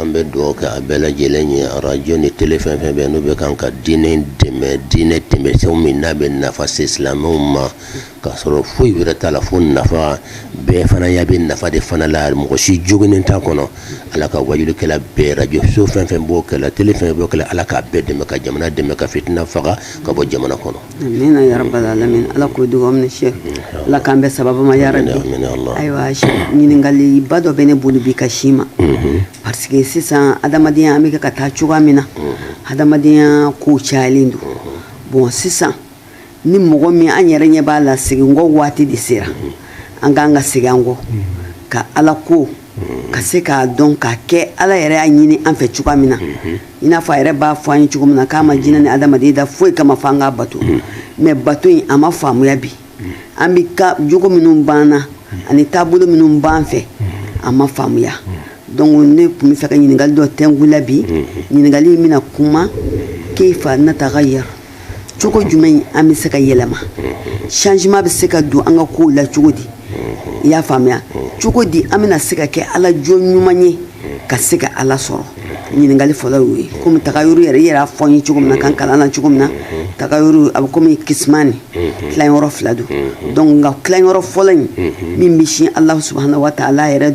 an bɛ dugawu kɛ a bɛɛ lajɛlen ye arajo ni tele fɛn fɛn bɛ n'u bɛ kan ka diinɛ dɛmɛ diinɛ tɛmɛsɛw min n'a bɛ nafa se silamɛw ma k'a sɔrɔ foyi wɛrɛ t'a la fo nafa bɛɛ fana ɲa bɛ nafa de fana la mɔgɔ si joginni t'a kɔnɔ ala ka waajulikɛla bɛɛ arajo so fɛn fɛn b'o kɛ la tele fɛn b'o kɛ la ala k'a bɛɛ dɛmɛ ka jamana dɛmɛ ka fitina faga ka bɔ jamana kɔnɔ Amin ya rabbal alamin ala k'o dugawu minɛ sheikh ala k'an bɛɛ saba ma yɛrɛ la ayiwa ɲininkali ba dɔ bɛ ne bolo bi ka sin i ma parce que sisan adamadenyaya an bɛ ka taa cogoya min na adamadenyaya ko cayalen don bon sisan ni mɔgɔ min an yɛrɛ ɲɛ b'a la segin kɔ waati de sera an k'an ka segin an kɔ ka ala ko ka se k'a dɔn k'a kɛ ala yɛrɛ y'a ɲini an fɛ cogoya min na i n'a fɔ a yɛrɛ b'a fɔ an ye cogo min na k'a ma jinɛ ni adamaden da foyi kama fo an k'a bato mais bato in a ma faamuya bi an bɛ ka jogo minnu b'an na ani taabolo minnu b'an fɛ a ma faamuya donc ne tun b'a fɛ ka ɲininkali dɔ tɛnkun la bi ɲininkali in bɛna kuma kayfa nataghayyar cogo jumɛn an bɛ se ka yɛlɛma changement bɛ se ka don an ka kow la cogo di i y'a faamuya cogo di an bɛna se ka kɛ ala jɔn ɲuman ye ka se ka ala sɔrɔ ɲininkali fɔlɔ y'o ye komi tagayuru yɛrɛ i yɛrɛ y'a fɔ n ye cogo min na kan kalan na cogo min na tagayuru a bɛ komi kisimani tilanyɔrɔ fila don donc nka tilanyɔrɔ fɔlɔ in min bɛ sin ala subahana wa taala yɛrɛ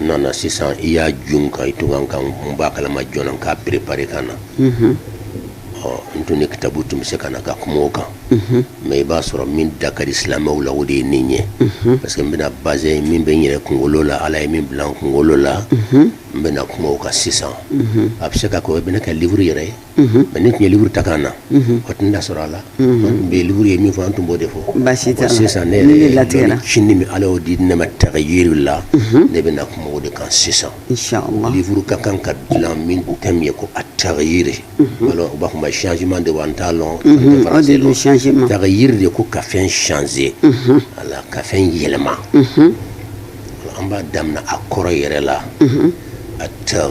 nana sisan i y'a jun kan i tun kan ka n bɔ a kalama joona n k'a préparer ka na n tun ni kitabu tun bɛ se ka na ka kuma o kan mais i b'a sɔrɔ min da ka di silamɛw la o de ye nin ye parce que n bɛna base min bɛ n yɛrɛ kunkolo la ala ye min bila n kunkolo la n bɛna kuma o kan sisan a bɛ se ka k'o bɛna kɛ livre yɛrɛ ye mais ne tun ye livre ta ka na a tun da sɔrɔ a la n bɛ livre ye min fɔ an tun b'o de fɔ basi sisan ne yɛrɛ latigɛ sini min ala y'o di ne ma tagayiri la ne bɛna na kuma o de kan sisan livre ka kan ka dilan min thème ye ko a tagayiri wala u b'a fɔ ma changement de wa n t'a dɔn tagayiri de ko ka fɛn changer a ka fɛn yɛlɛma an b'a daminɛ a kɔrɔ yɛrɛ la a ta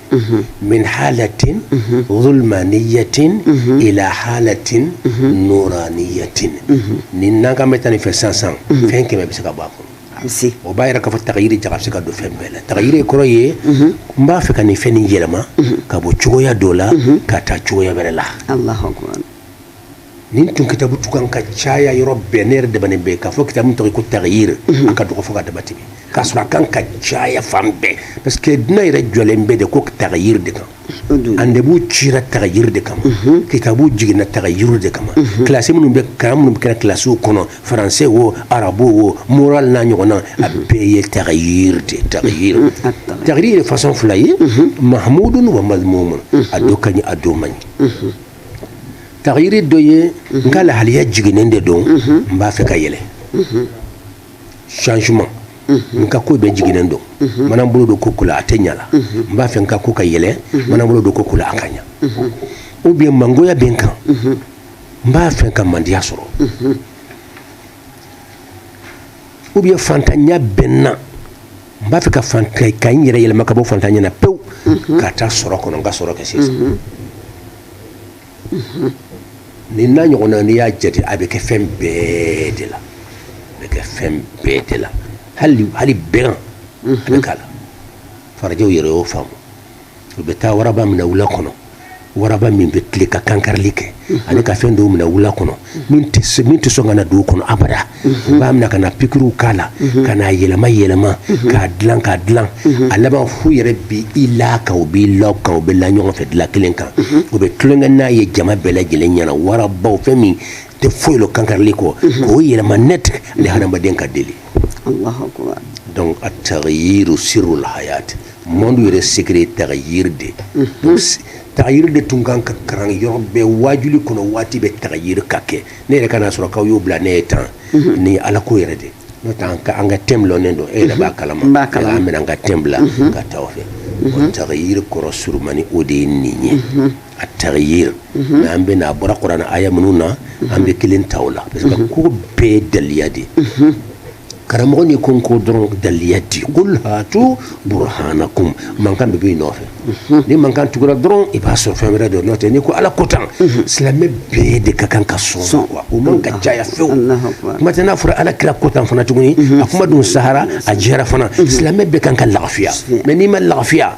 min halatin zulmaniyatin ila halatin nuraniyatin nin n'an kan bɛ taa nin fɛ sisan sisan fɛn kɛmɛ bɛ se ka bɔ a kɔnɔ o b'a yira k'a fɔ tagayiri jaga bɛ se ka don fɛn bɛɛ la tagayiri kɔrɔ ye n b'a fɛ ka nin fɛn nin yɛlɛma ka bɔ cogoya dɔ la ka taa cogoya wɛrɛ la nin tun kitabu tun kan ka caya yɔrɔ bɛɛ ne yɛrɛ dɛmɛnen bɛ k'a fɔ kitabu tɔgɔ ko tagayir mhm. a ka dɔgɔ fo ka dama tɛmɛ k'a sɔrɔ a kan ka caya fan bɛɛ parce que dina yɛrɛ jɔlen bɛ de ko tagayir de kan annabiw cira tagayir de kama mhm. kitabu jiginna tagayir de kama mhm. kilasi minnu bɛ karan minnu bɛ kɛra kilasiw kɔnɔ faransɛ wo arabu wo moral n'a ɲɔgɔnna a bɛɛ ye tagayir de tagayir tagayir ye fasɔn fila ye mahamudun wa mazmumun a dɔ ka ɲi a dɔ man ɲi tagayiri dɔ ye n ka lahaliya jiginnen de don n b'a fɛ ka yɛlɛ changement n ka ko bɛɛ jiginnen don mana n bolo don ko o ko la a tɛ ɲa la n b'a fɛ n ka ko ka yɛlɛ mana n bolo don ko o ko la a ka ɲa ou bien mangoya bɛ n kan n b'a fɛ ka mandiya sɔrɔ ou bien fantanya bɛ n na n b'a fɛ ka fantan ka n yɛrɛ yɛlɛma ka bɔ fantanya na pewu mhm. ka taa sɔrɔ kɔnɔ n ka sɔrɔ kɛ sisan mhm. Mhm. nin n'a ɲɔgɔnna n'i y'a jate a bɛ kɛ fɛn bɛɛ de la a bɛ kɛ fɛn bɛɛ de la hali hali bɛgan a bɛ k'a la farajɛw yɛrɛ y'o faamu u bɛ taa waraba minɛ wula kɔnɔ waraba min bɛ tile ka kankarili kɛ ani ka fɛn dɔw minɛ wula kɔnɔ min tɛ sɔn ka na dugu kɔnɔ abada u b'a minɛ ka na pikiriw k'a la ka n'a yɛlɛma yɛlɛma k'a dilan k'a dilan a laban f'u yɛrɛ b'i la a kan u b'i lɔ a kan u bɛ la ɲɔgɔn fɛ dilan kelen kan u bɛ tulonkɛ n'a ye jama bɛɛ lajɛlen ɲɛ na waraba o fɛn min tɛ foyi lɔn kankarili kɔ k'o yɛlɛma net ni hadamaden ka deli donc a tagayiru sirul hayati monde yɛrɛ secret ye tagayiri de mhm. tagayiri de tun kan ka karan yɔrɔ bɛɛ waajuli kɔnɔ waati bɛɛ tagayiri ka kɛ ne yɛrɛ ka n'a sɔrɔ k'aw y'o bila ne ye tan mhm. nin ye ala ko yɛrɛ de n'o tɛ an ka an ka thème lɔnnen don e yɛrɛ b'a kalama an bɛna an ka thème bila mhm. ka taa o fɛ o tagayiri kɔrɔ surumani o de ye nin ye a tagayiri mɛ an bɛna a bɔra kurana aya minnu na an bɛ kelen ta o la parce que ko bɛɛ ye daliya de ye karamɔgɔ n'i ko n ko dɔrɔn daliya di kul hatu burhanakum mankan de b'i nɔfɛ mhm. ni mankan tugura dɔrɔn i b'a sɔrɔ fɛn wɛrɛ don n'o tɛ n'i ko ala ko tan mhm. silamɛ bɛɛ de ka kan ka sɔn wa o man kan ka caya fewu kuma tɛ n'a fɔra ala kira ko tan fana tuguni mhm. a kuma dun sahara a jɛra fana silamɛ bɛɛ kan ka lafiya mais n'i ma lafiya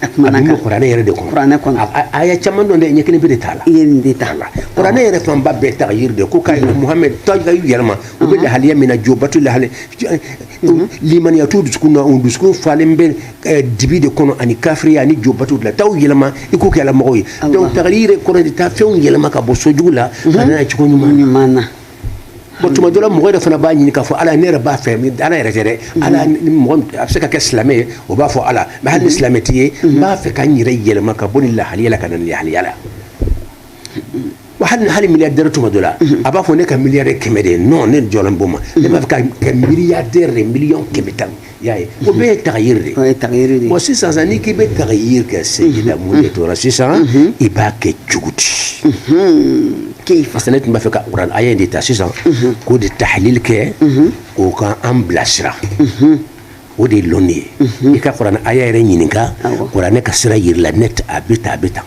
a kumana a kan kuranɛ yɛrɛ de kɔnɔ kuranɛ kɔnɔ aya caman don dɛ n ye kelen pe de t'a la i ye nin de t'a la kuranɛ yɛrɛ fanba bɛɛ tagayiri de ko ka muhamɛd taa ka yɛlɛma u bɛ lahaliya min na jobato lahali limaniya t'u dusukun na u dusukun falen bɛ dibi de kɔnɔ ani kafiriya ani jobato de la taa u yɛlɛma i k'u kɛ ala mɔgɔw ye donc tagayiri yɛrɛ kɔrɔ de taa fɛnw yɛlɛma ka bɔ sɔn jugu la ka na cogo ɲuman na Bon tuma dɔ la mɔgɔ yɛrɛ fana b'a ɲini k'a fɔ ala ne yɛrɛ b'a fɛ ala yɛrɛ dɛ a bɛ se ka kɛ silamɛ ye o b'a fɔ ala ma hali ni silamɛ tɛ n b'a fɛ ka n yɛrɛ yɛlɛma ka bɔ nin lahalaya la ka na lahalaya la wa hali hali milliardaire tuma dɔ la a b'a fɔ ne ka milliard kɛmɛ de ye non ne jɔlen' ma ne b'a fɛ ka milliard de million kɛmɛ tan y'a ye o bɛɛ ye tagayiri de ye tagayiri de ye sisan sa n'i k'i bɛ tagayiri kɛ sigida mun de tora sisan i b'a kɛ cogo di k'i fasa ne tun b'a fɛ ka kuranɛ aya de ta sisan k'o de tahalili kɛ o k'an bila sira o de ye lɔnni ye i ka kuranɛ aya yɛrɛ ɲininka kuranɛ ka sira yira i la ne a bɛ ta a bɛ ta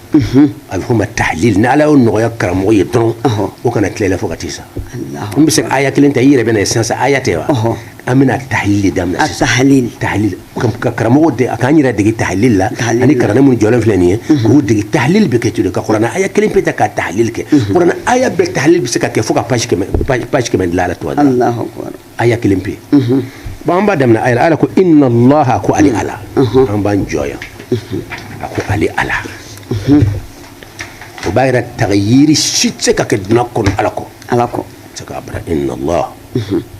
a bɛ fɔ ma tahalili ni ala y'o nɔgɔya karamɔgɔ ye dɔrɔn o kana tilela fo ka t'i sa n bɛ se aya kelen ta i yɛrɛ bɛ na ye sisan aya tɛ wa an bɛna tahalil de daminɛ a tahalil tahalil ka karamɔgɔ de a k'an yɛrɛ dege tahalil la ani kalanden minnu jɔlen filɛ nin ye mhm. k'u dege tahalil bɛ kɛ cogo ka kuranɛ aya kelen pe ta ka tahalil kɛ mhm. kuranɛ aya bɛɛ tahalil bɛ se ka kɛ fo ka page kɛmɛ page kɛmɛ dilan a la tuma dɔ aya kelen pe mhm. bon an b'a daminɛ aya la ala ko inna allaha ko ale ala an b'an jɔ yan a ko ale ala o b'a yira tagayiri si tɛ se ka kɛ duniya kɔnɔ ala kɔ ala kɔ tɛ se ka bara inna allah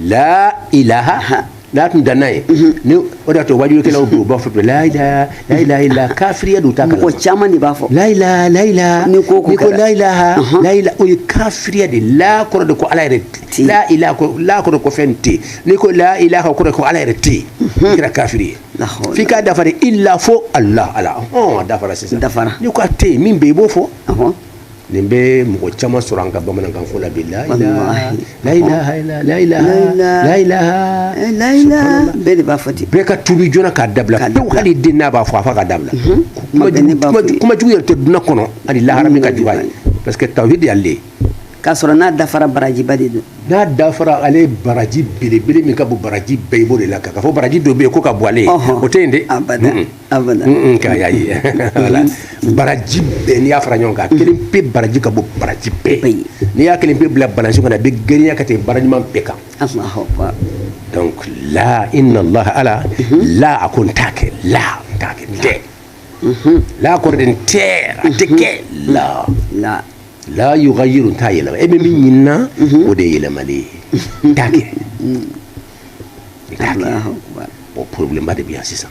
la ilaha la tun danna yen ni o de y'a to waajulikɛlaw don u b'a fɔ la ilaha la ilaha illa kafiriya don u t'a kalama mɔgɔ caman de b'a fɔ la ilaha la ilaha N'i ko ko n'i ko kɛra. la ilaha la ilaha o ye kafiriya de ye. la kɔrɔ de ko ala yɛrɛ tɛ yen. la ilaha ko la kɔrɔ de ko fɛn tɛ yen. n'i ko la ilaha kɔrɔ de ko ala yɛrɛ tɛ yen i kɛra kafiri ye La hawla. f'i k'a dafa de illa fo ala ala ɔhɔn a dafara sisan Dafara. n'i ko a tɛ yen min bɛ yen i b'o fɔ Ɔhɔn. nin bɛ mɔgɔ caman sɔrɔ an ka bamanankan fɔ la bi la ilaha bɛɛ de b'a fɔ ten bɛɛ ka tubi joona k'a dabila tewu hali den n'a b'a fɔ a fa k'a dabila kumajugu yɛrɛ tɛ duniya kɔnɔ ani lahara min ka jugu a ye parce que tawhid y'ale k'a sɔrɔ n'a dafara barajiba de don n'a dafara ale baraji belebele min ka bon baraji bɛɛ i b'o de la k'a fɔ baraji dɔ bɛ yen k'o ka bon ale ye o tɛ yen dɛ kaya ye wala baraji bɛɛ n'i y'a fara ɲɔgɔn kan kelen pe baraji ka bon baraji bɛɛ n'i y'a kelen pe bila balance kɔnɔ a bɛ girinya ka tɛmɛ baara ɲuman bɛɛ kan donc la inna allah ala la a ko n t'a kɛ la n t'a kɛ n tɛ la kɔrɔ de n tɛ a tɛ kɛ la la la yugayiru n t'a yɛlɛma e bɛ min ɲini n na o de ye yɛlɛmali ye n t'a kɛ o problèmeba de bɛ yan sisan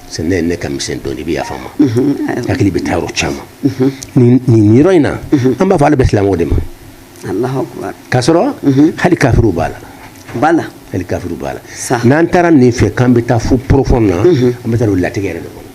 sa ne ye ne ka misɛn dɔɔnin i bɛ yafa n ma hakili bɛ taa yɔrɔ caman nin yɔrɔ in na an b'a fɔ ala bɛ silamɛw de ma k'a sɔrɔ hali kafiriw b'a la b'a la hali kafiriw b'a la n'an taara nin fɛ k'an bɛ taa fo profond na an bɛ taa don latigɛ yɛrɛ de kɔnɔ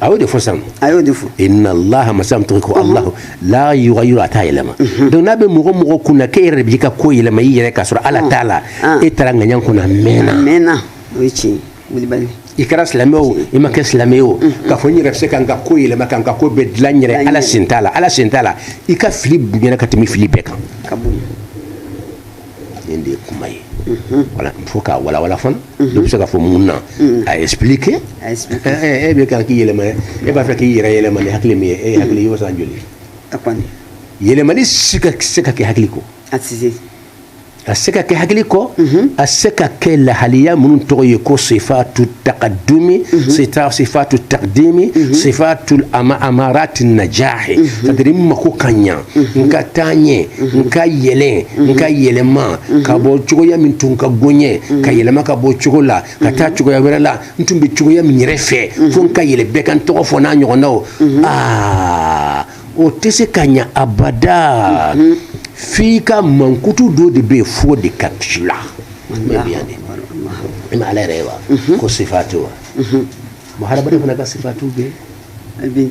a y'o de fɔ sisan a y'o de fɔ inna allaha masa min tɔgɔ ko alahu la yugayiru a t'a yɛlɛma donc n'a bɛ mɔgɔ mɔgɔ kun na k'e yɛrɛ de b'i ka ko yɛlɛma i yɛrɛ k'a sɔrɔ ala t'a la e taara ŋaɲan kɔnɔ a mɛnna a mɛnna o ye tiɲɛ wulibali i kɛra silamɛ o i ma kɛ silamɛ ye o k'a fɔ n yɛrɛ bɛ se ka n ka ko yɛlɛma ka n ka ko bɛɛ dilan n yɛrɛ ala sen t'a la ala sen t'a la i ka fili bonya ka tɛmɛ fili bɛɛ kan nin de ye kuma ye voilà il faut k'a walawala fana dɔ bɛ se ka fɔ mun na a expliquer A expliquer. ɛ ɛ e bɛ kan k'i yɛlɛma e b'a fɛ k'i yɛrɛ yɛlɛma ni hakili min ye e ye hakili y'o san joli a kɔni yɛlɛmali se ka kɛ hakili kɔ a tɛ se a se ka kɛ hakili kɔ a se ka kɛ lahaliya minnu tɔgɔ ye ko sifatu takadumi sita- sifatu takdimi sifatu ama- amarati najahi c'est-à-dire n mako ka ɲa n ka taaɲɛ n ka yɛlɛn n ka yɛlɛma ka bɔ cogoya min tun ka go n ye ka yɛlɛma ka bɔ cogo la ka taa cogoya wɛrɛ la n tun bɛ cogoya min yɛrɛ fɛ fo n ka yɛlɛ bɛɛ ka n tɔgɔ fɔ n'a ɲɔgɔnnaw aa o tɛ se ka ɲa abada f'i ka mankutu dɔ de bɛ yen f'o de ka k'i la i ma ala yɛrɛ ye wa ko sifatu wa mɔgɔ hadamaden fana ka sifatu bɛ yen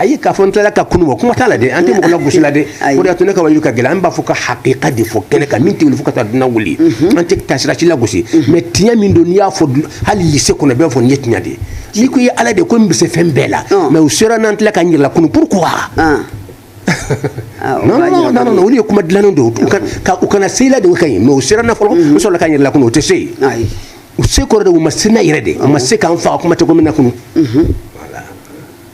ayi k'a fɔ n tilala ka kunu kuma t'a la dɛ an tɛ mɔgɔ lagosi la dɛ o de y'a to ne ka waaju ka gɛlɛn an b'a fɔ ka hakika de fɔ kɛnɛ kan min tɛ wuli fo ka taa duniya wuli an tɛ taasira si lagosi mais tiɲɛ min don n'i y'a fɔ hali église kɔnɔ bɛɛ fɔ nin ye tiɲɛ de ye n'i ko i ye ala de ko n bɛ se fɛn bɛɛ la mais u sera n na n tilala ka n yɛrɛ lakunu pourquoi non non non olu ye kuma dilannen don u kana se i la o de ka ɲi mais u sera n na fɔlɔ n sɔrɔla ka n yɛrɛ lakunu o tɛ se ye u se kɔrɔ de u ma se n na yɛrɛ de u ma se ka n faga kuma tɛ ko n bɛna kunu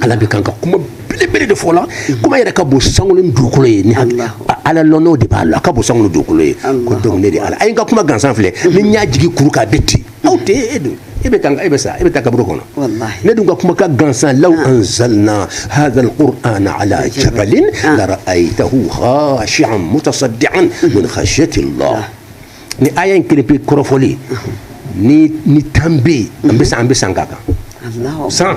ala bɛ kan ka kuma belebele de fɔ la mhm. kuma yɛrɛ ka bon sankolo ni dugukolo ye ni ala lɔn o de b'a la a ka bon sankolo dugukolo ye ko donc ne de ala a ye n ka kuma gansan filɛ mhm. ni n y'a jigi kuru kan a bɛ ti mhm. aw tɛ e don e bɛ taa e bɛ sa e bɛ taa kaburu kɔnɔ ne dun ka kuma ka gansan law ah. anzalna hadha alqur'ana ala jabalin ah. la ra'aytahu khashi'an mutasaddian min khashyati allah ah. ni aya in kelen pe kɔrɔfɔli ni tan bɛ yen an bɛ san an bɛ san k'a kan san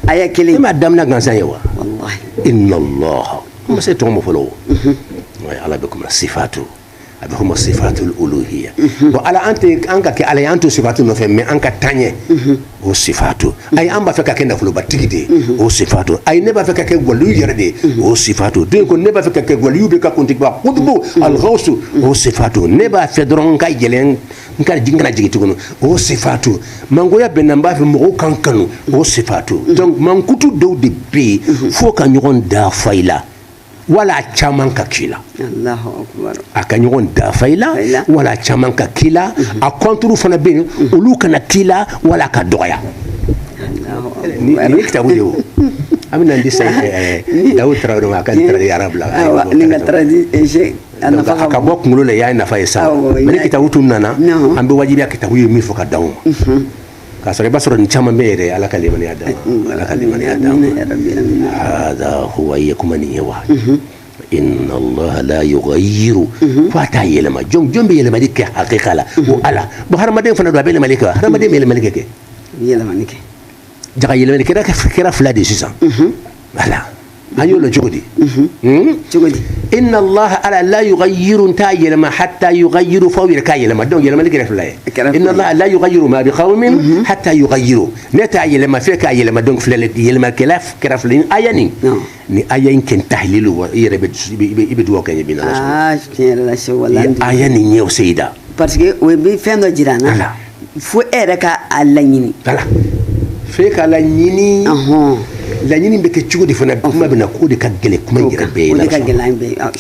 aya kelen e m'a daminɛ gansan ye wa inna allah n ma se tɔgɔ ma fɔlɔ o ala bɛ kuma sifatu a bɛ fɔ ma sifatul uluhiya bon ala an tɛ an ka kɛ ala ye an to sifatu nɔfɛ mais an ka taaɲɛ o sifatu ayi an b'a fɛ ka kɛ nafolobatigi de ye mhm. o sifatu ayi ne b'a fɛ ka kɛ gwaliyu yɛrɛ de ye mhm. o sifatu donc ne b'a fɛ ka kɛ gwaliyu bɛɛ ka kuntigiba kutubu mhm. alghawsu o sifatu ne b'a fɛ dɔrɔn n ka yɛlɛn n kana jigin tuguni o sifatu mangoya bɛ n na n b'a fɛ mɔgɔw ka n kanu o sifatu donc mankutu dɔw de bɛ yen fo ka ɲɔgɔn dafa i la wala a caman ka k'i la a ka ɲɔgɔn dafa i la wala a caman ka k'i la mhm. a contre fana bɛ yen mhm. olu kana k'i la wala a ka dɔgɔya nin ye kitabu de ye o an bɛna n di sa eh, eh, dawu tarawele ma a ka nin traduit arabu la a ka bɔ kunkolo la i y'a nafa ye sa mais ni kitabu tun nana an bɛ wajibiya kitabu ye min fɔ ka dan o ma mhm. k'a sɔrɔ i b'a sɔrɔ nin caman bɛ yɛrɛ ala ka limaniya d'an ma ala ka limaniya d'an ma hada huwa i ye kuma nin ye wa inna allaha la yughayyiru fo a t'a yɛlɛma jɔn jɔn bɛ yɛlɛmali kɛ hakika la o ala bon hadamaden fana dun a bɛ yɛlɛmali kɛ wa hadamaden bɛ yɛlɛmali kɛ kɛ jaga yɛlɛmani kɛra fila de sisan voilà an y'o dɔn cogo di inna allaha ala la yughayyiru t'a yɛlɛma hatta yughayyiru f'aw yɛrɛ k'a yɛlɛma donc yɛlɛmali kɛra fila ye inna allaha la yughayyiru ma bi qawmin hatta yughayyiru ne t'a yɛlɛma f'e k'a yɛlɛma donc filɛ yɛlɛmakɛla kɛra fila ni aya nin ni aya in kɛ tahlilu wa i yɛrɛ i bɛ dugawu kɛ n ye bi n'ala sɔnna aya nin ɲɛ o seyida parce que o bɛ fɛn dɔ jira an na fo e yɛrɛ ka a laɲini voilà f'e ka laɲini laɲini bɛ kɛ cogo di fana kuma bɛ na k'o de ka gɛlɛn kuma in yɛrɛ bɛɛ ye la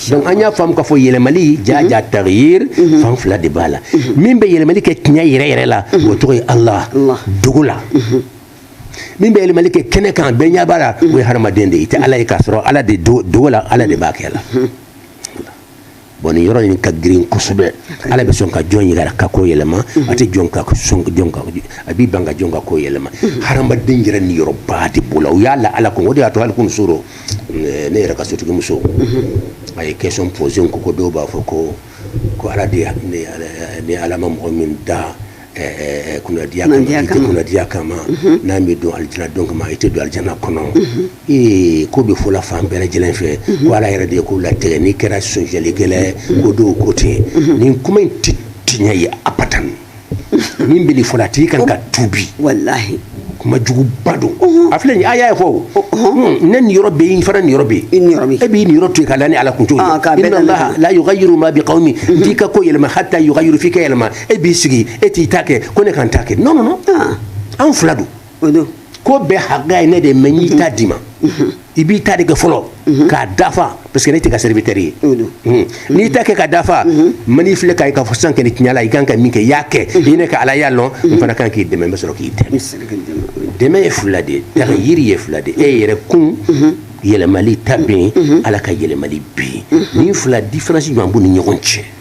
donc an y'a faamu k'a fɔ yɛlɛmali jaja mhm. taghyir mhm. fan fila de b'a la mhm. min bɛ yɛlɛmali kɛ tiɲɛ yɛrɛ yɛrɛ la o tɔgɔ ye ala dogo la min bɛ yɛlɛmali kɛ kɛnɛ kan bɛɛ ɲɛ b'a la o ye hadamaden de ye i tɛ ala ye k'a sɔrɔ ala de dogo la ala de b'a kɛ la Bon nin yɔrɔ in ka girin kosɛbɛ ala bɛ sɔn ka jɔn yɛrɛ ka ko yɛlɛma a tɛ jɔn ka a b'i ban ka jɔn ka ko yɛlɛma hadamaden yɛrɛ niyɔrɔba de b'o la u y'a la ala kun o de y'a to hali kunun su rɔ ne yɛrɛ ka sotigimuso a ye question posé ko ko dɔw b'a fɔ ko ko ala de ni ala ma mɔgɔ min da Eh, kunnadiya kama mhm. n'a m'i dan alijana don kama i tɛ don alijana kɔnɔ mhm. ee k'o bɛ fɔ la fan bɛɛ lajɛlen fɛ mhm. ko ala yɛrɛ de ye ko latigɛ n'i kɛra sonyalikɛla ye ko dɔw ko ten nin kuma in tɛ tiɲɛ ye abadan min bɛ nin fɔ la a tigi kan ka tuubi walahi kuma juguba don a filɛ nin aya ye fɔ hmm, ne niyɔrɔ bɛ yen fana niyɔrɔ bɛ yen e b'i niyɔrɔ to yen k'a da ne ala kun t'o ye ah, inna allaha la yughayyiru ma bi qawmin n t'i ka ko yɛlɛma hatta yughayyiru f'i k'a yɛlɛma e b'i sigi e t'i ta kɛ ko ne ka n ta kɛ non non non ah. anw fila don o don ko bɛɛ hakɛ ye ne de ye mais n y'i ta d'i ma i b'i ta de kɛ fɔlɔ mhm. k'a dafa parce que ne t'e ka serviteur ye mhm. n'i ta kɛ k'a dafa mhm. n man'i filɛ k'a ye k'a fɔ sisan kɔni tiɲɛ la i kan ka min kɛ i y'a kɛ i ne ka ala y'a lɔn n fana kan k'i dɛmɛ n bɛ sɔrɔ k'i dɛmɛ dɛmɛ ye fila de ye tagayiri ye fila de ye e yɛrɛ kun yɛlɛmali ta bɛ yen ala ka yɛlɛmali bɛ yen nin fila différence jumɛn b'u ni ɲɔgɔn cɛ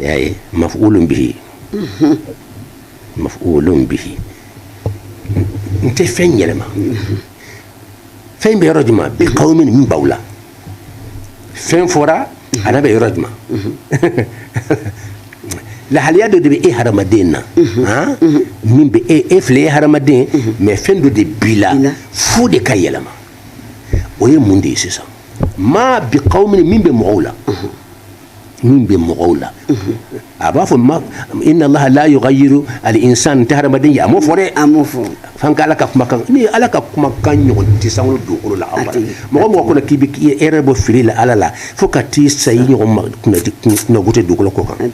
y'a ye mafulun bihi mafulun bihi n tɛ fɛn yɛlɛma fɛn bɛ yɔrɔ jumɛn bi qawmin min b'aw la fɛn fɔra ana bɛ yɔrɔ jumɛn lahaliya dɔ de bɛ e hadamaden na min bɛ e e filɛ e hadamaden mais fɛn dɔ de b'i la f'o de ka yɛlɛma o ye mun de ye sisan ma bi qawmin min bɛ mɔgɔw la min bɛ mɔgɔw la a b'a fɔ ma inna allaha la yughayyiru al insan tɛ hadamaden ye a m'o fɔ dɛ a m'o fɔ f'an ka ala ka kumakan ni ala ka kumakan ɲɔgɔn tɛ sankolo dugukolo la abada mɔgɔ mɔgɔ kɔnɔ k'i bɛ erreur bɔ fili la ala la fo ka t'i sa i ɲɔgɔn maa kunnago tɛ dugukolo kɔ kan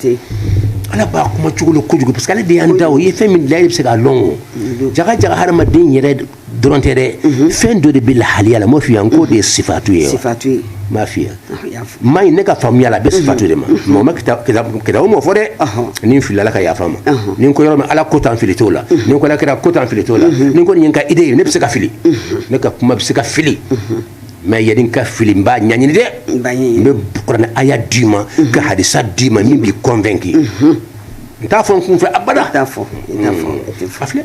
ala b'a kuma cogo lɔn kojugu parce que ale de y'an da o ye fɛn min da e bɛ se k'a lɔn o jaga jaga hadamaden yɛrɛ dɔrɔn tɛ dɛ fɛn dɔ de bɛ lahaliya la n m'o f'i ye n k'o de ye sifatu ye sifatu ye n m'a f'i ye mais ne ka faamuya la a bɛ sifatu de ma mɔgɔ ma kitabu m'o fɔ dɛ ni n filila ala ka yafa n ma ni n ko yɔrɔ min ala ko tan fili t'o la ni n ko ala kira ko tan fili t'o la ni n ko nin ye n ka idée ye ne bɛ se ka fili ne ka kuma bɛ se ka fili mais yani n ka fili n b'a ɲaɲini dɛ n bɛ kuranɛ aya d'i ma ka hadisa d'i ma min b'i convaincu n t'a fɔ n kun fɛ abada a filɛ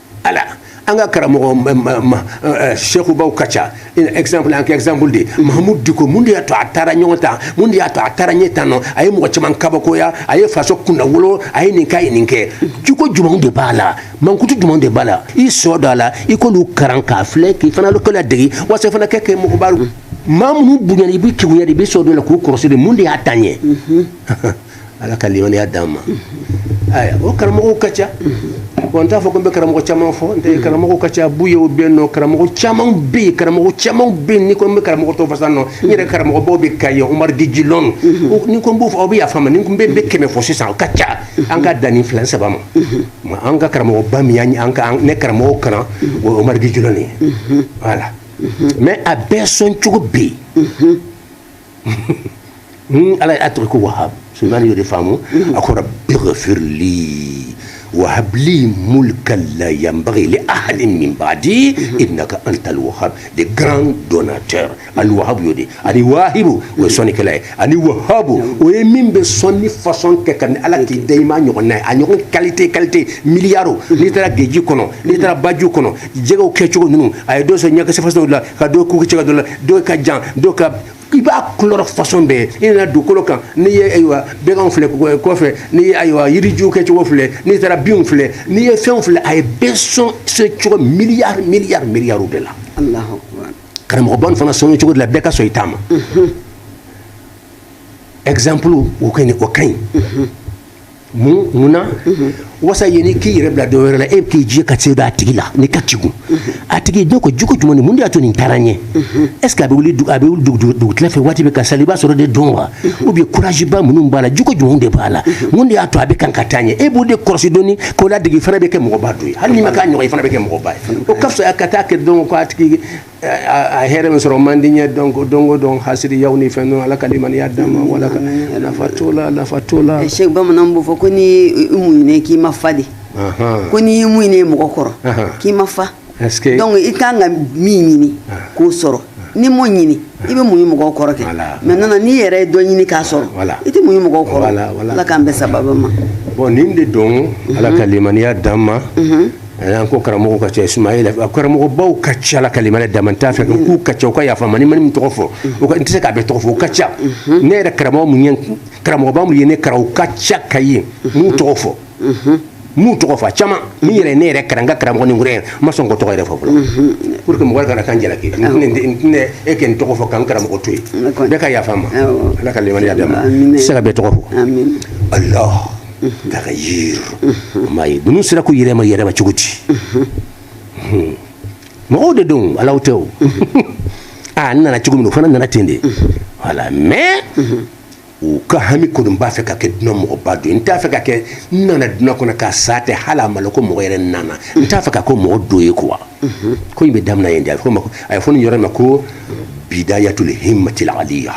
ala an ka karamɔgɔ sekubaw ka ca exemple an ka exemple de mahamud diko mun de y'a to a taara ɲɔgɔn ta mun de y'a to a taara ɲɛ tan non a ye mɔgɔ caman kabakoya a ye faso kunnawolo a ye nin k'a ye nin kɛ jogo jumɛnw de b'a la mankutu jumɛnw de b'a la i sɔ dɔ a la i k'olu karan k'a filɛ k'i fana k'a ladegi walasa i fana ka kɛ mɔgɔba maa minnu bonyana i bɛ kegunya de i bɛ sɔ dɔ la k'u kɔrɔsi de mun de y'a taa ɲɛ ala ka limaniya d'an ma ayiwa karamɔgɔw ka ca bon n t'a fɔ ko n bɛ karamɔgɔ caman fɔ n tɛ mm. karamɔgɔw ka ca buyew bɛ yen non karamɔgɔ caman bɛ yen karamɔgɔ caman bɛ yen ni n ko n bɛ karamɔgɔ tɔgɔ fɔ sa non n yɛrɛ karamɔgɔbaw bɛ ka ye umar gijilɔn mm-hmm. ni n ko n b'o fɔ aw bɛ yafa n ma ni n ko n bɛ kɛmɛ fɔ sisan o ka ca mm-hmm. an ka dan nin fila ni saba ma mm-hmm. an ka karamɔgɔba min y'an an ka ne karamɔgɔw kalan o ye umar gijilɔn ye voilà mais a bɛɛ sɔn cogo bɛ yen Hmm, ala ye a tɔgɔ ko wahab sulemani y'o de faamu hmm. a ko rabbi ghfirli wahab li mulkan la yanbaghi li ahadin min ba'di hmm. innaka antal wahab le grand donateur al wahab y'o de ani wahibu o ye sɔnnikɛla ye ani wahabu o ye min bɛ sɔnni façon kɛ ka ni ala k'i da i ma ɲɔgɔnna ye a ɲɔgɔn qualité qualité miliyari o n'i taara geji kɔnɔ n'i taara baju kɔnɔ jɛgɛw kɛcogo ninnu a ye dɔ sɔn ɲɛkisɛ façon la ka dɔ ku kɛcogo dɔ la dɔ ka jan dɔ ka i b'a couleur façon bɛɛ i nana dugukolo kan n'i ye ayiwa bɛganw filɛ kɔfɛ n'i ye ayiwa yirijuw kɛcogo filɛ n'i taara binw filɛ n'i ye fɛnw filɛ a ye bɛɛ sɔn sɔn cogo miliyari miliyari miliyariw de la karamɔgɔba nin fana sɔnni cogo de la bɛɛ ka sɔn i taama exemple o ka ɲi o ka ɲi mun mun na wasa yanni k'i yɛrɛ bila dɔ wɛrɛ la e bɛ k'i jɛ ka se d'a tigi la ni ka tugu a tigi dɔ kɔ jogo jumɛn ni mun de y'a to nin taara ɲɛ est ce que a bɛ wuli a bɛ wuli dugutila fɛ waati bɛɛ ka sali i b'a sɔrɔ de don wa ou bien courage ba minnu b'a la jogo jumɛnw de b'a la mun de y'a to a bɛ kan ka taa ɲɛ e b'o de kɔlɔsi dɔɔni k'o ladege i fana bɛ kɛ mɔgɔba dɔ ye hali n'i ma k'a ɲɔgɔn ye i fana bɛ kɛ mɔgɔba ye o ka fisa ka taa kɛ dɔn ko a tigi a hɛrɛ min sɔrɔ man di ɲɛ donc donc donc hasidiyaw ni fɛn ala ka limaniya d'an ma wala ka nafa to la nafa to la eh, se bamanan b'o fɔ ko n'i mɔnɛ k'i ma fa de ko n'i ye mɔnɛ mɔgɔ kɔrɔ k'i ma fa donc i kan ka min ɲini k'o sɔrɔ n'i m'o ɲini i bɛ mɔnɛ mɔgɔw kɔrɔ kɛ maintenant n'i yɛrɛ ye dɔ ɲini k'a sɔrɔ i tɛ mɔnɛ mɔgɔw kɔrɔ ala k'an bɛɛ sababa ma bɔn nin de don ala ka limaniya d'an ma an ko karamɔgɔ ka ca sumayila karamɔgɔbaw ka ca ala ka limaniya d'an ma n t'a fɔ k'u ka ca u ka yafa n ma ni n ma min tɔgɔ fɔ u ka n tɛ se k'a bɛɛ tɔgɔ fɔ u ka ca ne yɛrɛ karamɔgɔ minnu ye karamɔgɔba minnu ye ne kalan u ka ca ka ye n'u tɔgɔ fɔ n'u tɔgɔ fɔ caman min yɛrɛ ne yɛrɛ kalan ka karamɔgɔ ni n yɛrɛ ma sɔn k'u tɔgɔ yɛrɛ fɔ fɔlɔ pour que mɔgɔ kana ka n jalaki e kɛ n tɔgɔ fɔ k'an karamɔgɔ to yen bɛɛ ka yafa n ma ala ka limaniya d'an ma se ka bɛɛ tɔgɔ fɔ allah k'a ka yiri maa ye ninnu sera k'u yɛrɛ yɛlɛma cogo di hmm. mɔgɔw de don alaw tɛ o aa ah, n nana cogo min o fana nana ten de wala mais u ka hami kɔni b'a fɛ ka kɛ dunya mɔgɔba dɔ ye n t'a fɛ ka kɛ n nana dunya kɔnɔ ka sa ten hali a ma lɔn ko mɔgɔ yɛrɛ nana n t'a fɛ ka kɛ mɔgɔ dɔ ye quoi ko in bɛ damina yen de a bɛ fɔ a ye fɔ nin yɔrɔ ma ko bidayatul himmatil aliya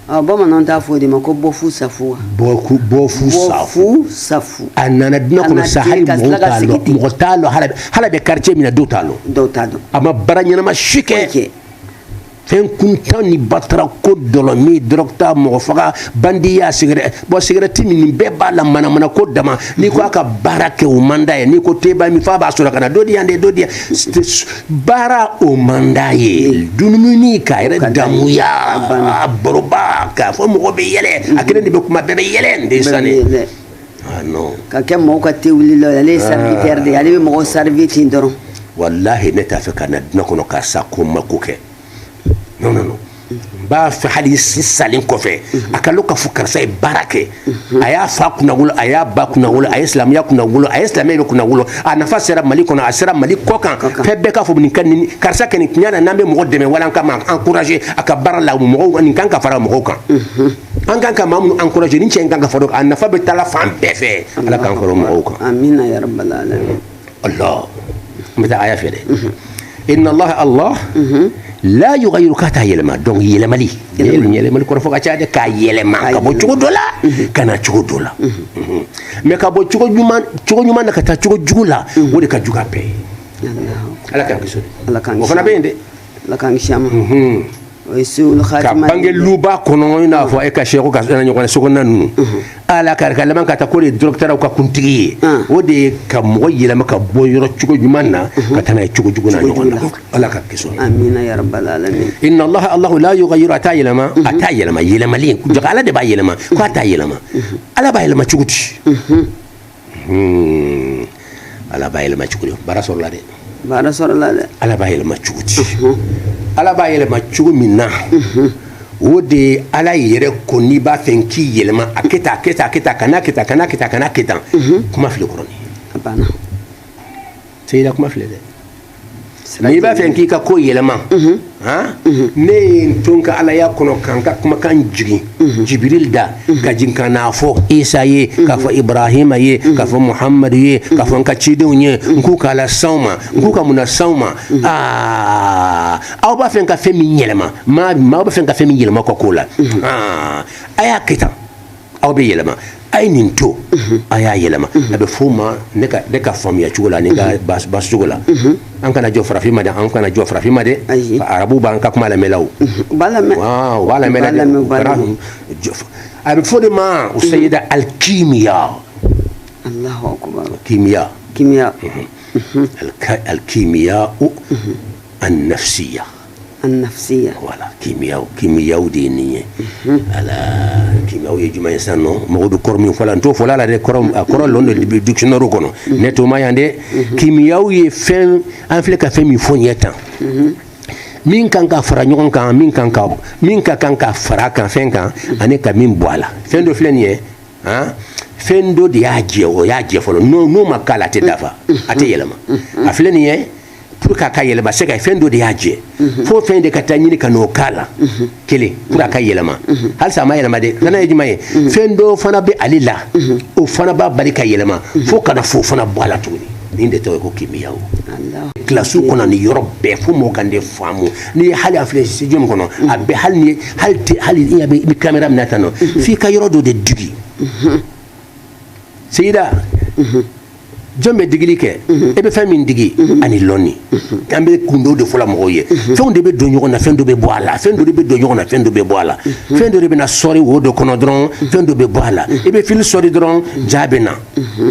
Ah, bamananw t'a fɔ o de ma ko bɔfu safu wa bɔfu bɔfu safu safu a nana dunya kɔnɔ sa hali mɔgɔw t'a lɔn mɔgɔ t'a lɔn hali a hali a bɛ quartier min na dɔw t'a lɔn dɔw t'a dɔn a ma baara ɲɛnama si kɛ fɛn kuntan ni batara ko dɔlɔmin dɔrɔguta mɔgɔ faga bandiya sigɛrɛ bɔn sigɛrɛti min nin bɛɛ b'a la manamana ko dama n'i ko a ka baara kɛ o man d'a ye n'i ko te ba min f'a b'a sɔrɔ ka na dɔ di yan de dɔ di yan baara o man d'a ye dunumuni k'a yɛrɛ damuya a baroba k'a fɔ mɔgɔ bɛ yɛlɛ a kelen de bɛ kuma bɛɛ bɛ yɛlɛ n den sani ah, ka kɛ mɔgɔw ka te wuli la ale ye serviteur de ye ale bɛ mɔgɔw servi ten dɔrɔn walahi ne t'a fɛ ka na duna kɔnɔ ka sa ko n ma ko kɛ non non non n b'a fɛ hali n salen kɔfɛ a ka lɔn k'a fɔ karisa ye baara kɛ a y'a fa kunnawolo a y'a ba kunnawolo a ye silamɛya kunnawolo a ye silamɛya bɛɛ kunnawolo a nafa sera mali kɔnɔ a sera mali kɔkan fɛn bɛɛ k'a fɔ nin ka nin karisa kɛ nin tiɲɛ na n'an bɛ mɔgɔ dɛmɛ wala an ka maa encourager a ka baara la mɔgɔw nin kan ka fara mɔgɔw kan an kan ka maa minnu encourager nin cɛ in kan ka fara a nafa bɛ taala fan bɛɛ fɛ ala k'an fara mɔgɔw kan amina ya rabbal alamin allah n bɛ taa aya fɛ dɛ inna allah allah la yughayyiru k'a t'a yɛlɛma donc yɛlɛmali yɛlɛmali kɔrɔ fɔ ka ca dɛ k'a yɛlɛma ka bɔ cogo dɔ la ka na cogo dɔ la mais ka bɔ cogo ɲuman na ka taa cogo jugu la o de ka jugu a bɛɛ ye ala k'an kisi o fana bɛ yen dɛ ala k'an kisi a ma o ye su'ul khatima ka bange luba kɔnɔ i n'a fɔ e ka cheikh n'a ɲɔgɔn sokɔnɔna ninnu ala ka ka laban ka taa k'o de dɔrɔgutalaw ka kuntigi ye o de ye ka mɔgɔ yɛlɛma ka bɔ yɔrɔ cogo ɲuman na ka taa n'a ye cogo jugu n'a ɲɔgɔnna ala k'an kisi amina ya rabbal alamin inna allah allah la yughayyiru a t'a yɛlɛma a t'a yɛlɛma yɛlɛmali jaa ala de b'a yɛlɛma ko a t'a yɛlɛma ala b'a yɛlɛma cogo di Hmm. ala b'a yɛlɛma cogo di baara sɔrɔla dɛ baara sɔrɔla dɛ ala b'a yɛlɛma cogo di ala b'a yɛlɛma cogo min na o de ye ala yɛrɛ ko n'i b'a fɛ k'i yɛlɛma a kɛ tan a kɛ tan a kɛ tan kan'a kɛ tan kan'a kɛ tan kan'a kɛ tan kuma filɛ kɔrɔ ni seyida kuma filɛ dɛ n'i b'a fɛ k'i ka ko yɛlɛma mhm. mhm. ne ye n to n ka alaya kɔnɔ ka n ka kumakan jigin mhm. jibiril da ka jigin ka n'a fɔ isa ye k'a fɔ ibrahima ye k'a fɔ muhamadu ye k'a fɔ n ka cidenw ye n k'u k'a lase aw ma n k'u ka mun lase aw ma aa aw b'a fɛ ka fɛn min yɛlɛma maa b'a fɛ ka fɛn min yɛlɛma ka ko la a y'a kɛ tan aw bɛ yɛlɛma a ye nin to a y'a yɛlɛma a bɛ f'o ma ne ka faamuya cogo la ni ka basi cogo la an kana jɔ farafin ma dɛ an kana jɔ farafin ma dɛ arabu b'an ka kuma lamɛnla u b'a lamɛn a bɛ fɔ de ma u seyida al kimiya kimiya kimiya al kimiyaw an nafsiya nafsiya voilà kimiyaw kimiyaw de ye nin ye al kimiyaw ye jumɛn ye sisan nɔ mɔgɔ bɛ kɔrɔ min fɔ la n t'o fɔla la dɛ kɔrɔ a kɔrɔ lɔn de dictionnaire kɔnɔ ne t'o ma yan dɛ kimiyaw ye fɛn an filɛ ka fɛn min fɔ ɲɛ tan min kan ka fara ɲɔgɔn kan min kan ka min ka kan ka fara kan fɛn kan ani ka min bɔ a la fɛn dɔ filɛ nin ye han fɛn dɔ de y'a jɛ o y'a jɛ fɔlɔ n'o n'o ma k'a la a tɛ dafa a tɛ yɛlɛma a filɛ nin ye pour k'a ka yɛlɛma c'est que fɛn dɔ de y'a jɛ mhm. fo fɛn de ka taa ɲini ka n'o k'a la mhm. kelen pour a ka mhm. yɛlɛma halisa a ma yɛlɛma dɛ filanan ye jumɛn ye fɛn dɔ fana bɛ ale la o fana b'a bali ka yɛlɛma fo ka na o fana bɔ a la tuguni nin de tɔgɔ ye ko kimiya o kilasiw kɔnɔ nin yɔrɔ bɛɛ fo mɔgɔ kan de faamu n'i ye hali a filɛ studio min kɔnɔ a bɛ hali ni hali te hali i bɛ i bɛ kamera minɛ tan nɔ f'i ka yɔrɔ dɔ de digi seyida jɔn bɛ digili kɛ mhm. e bɛ fɛn min digi mhm. ani lɔnni mhm. an bɛ kundo de fɔla mɔgɔw ye fɛnw de bɛ don ɲɔgɔn na fɛn dɔ bɛ bɔ a la fɛn dɔ de bɛ don ɲɔgɔn na fɛn dɔ bɛ bɔ a la fɛn dɔ de bɛ na sɔri wo dɔ kɔnɔ dɔrɔn fɛn dɔ bɛ bɔ a la i bɛ fili sɔri dɔrɔn ja bɛ na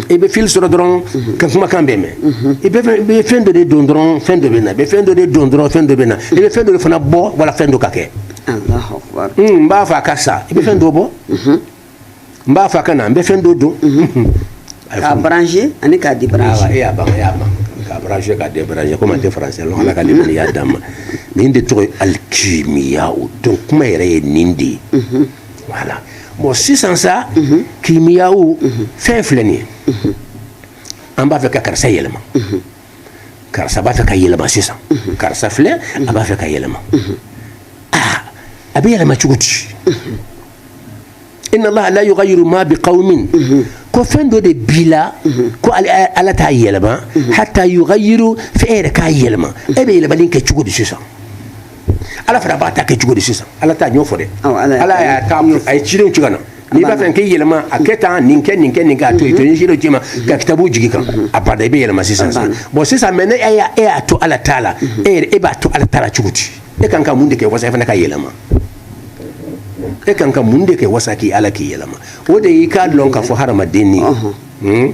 i bɛ fili sɔri dɔrɔn ka kumakan bɛ mɛn i bɛ fɛn dɔ de don dɔrɔn fɛn dɔ bɛ na i bɛ fɛn dɔ de don dɔrɔn fɛn dɔ bɛ na i bɛ fɛn dɔ de fana bɔ wala fɛn dɔ ka kɛ n b'a fɛ a ka sa i bɛ fɛn dɔ bɔ n b'a fɛ a ka na n bɛ fɛn dɔ don k'a brancher ani k'a débrancher e y'a ban e y'a ban k'a brancher k'a débrancher komi a tɛ français lɔn ala ka limaniya d'a ma nin de tɔgɔ ye alikimiya o donc kuma yɛrɛ ye nin de ye voilà bon sisan sa kimiyaw fɛn filɛ nin ye an b'a fɛ ka karisa yɛlɛma karisa b'a fɛ ka yɛlɛma sisan karisa filɛ a b'a fɛ ka yɛlɛma aa a bɛ yɛlɛma cogo di inna allaha la yughayyiru ma bi qaumin ko fɛn dɔ de b'i la ko ala t'a yɛlɛma hatta yughayyiru f'e yɛrɛ k'a yɛlɛma e bɛ yɛlɛmali kɛ cogo di sisan ala fana b'a ta kɛ cogo di sisan ala t'a ɲɔ fɔ dɛ ala y'a ta a ye cidenw ci ka na n'i b'a fɛ k'i yɛlɛma a kɛ tan nin kɛ nin kɛ nin kɛ a to yen to ni cidenw c'i ma ka kitabu jigi i kan abada i bɛ yɛlɛma sisan sisan bon sisan mais ni e y'a to ala ta la e yɛrɛ e b'a to ala ta la cogo di e kan ka mun de kɛ wasa e fana ka yɛlɛma e kan ka mun de kɛ wasa k'i ala k'i yɛlɛma o de y'i k'a dɔn k'a fɔ hadamaden ni hmm?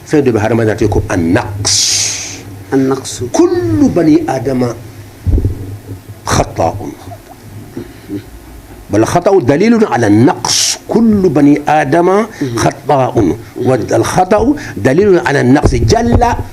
fɛn dɔ bɛ hadamaden te ko an-naqs an-naqsu kullu bani adama khata'un wal khata'u dalilun ala naqs kullu bani adama khata'un wal khata'u dalilun ala naqs jalla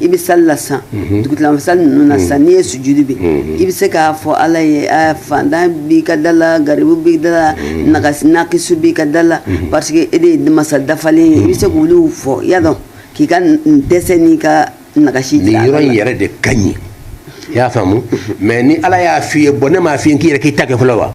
i bɛ sali la sa mhm. dugutila fɛ sali ninnu na sa mhm. n'i ye sujudi bin mhm. i bɛ se k'a fɔ ala ye fantan b'i ka da la garibu b'i da la nakisu b'i ka da la parce que e de ye masa dafalen ye i bɛ se k'olu fɔ i y'a dɔn k'i ka dɛsɛ n'i ka nakasi jira nin yɔrɔ in yɛrɛ de ka ɲi i y'a faamu mais ni ala y'a f'i ye bon ne m'a f'i ye k'i yɛrɛ k'i ta kɛ fɔlɔ wa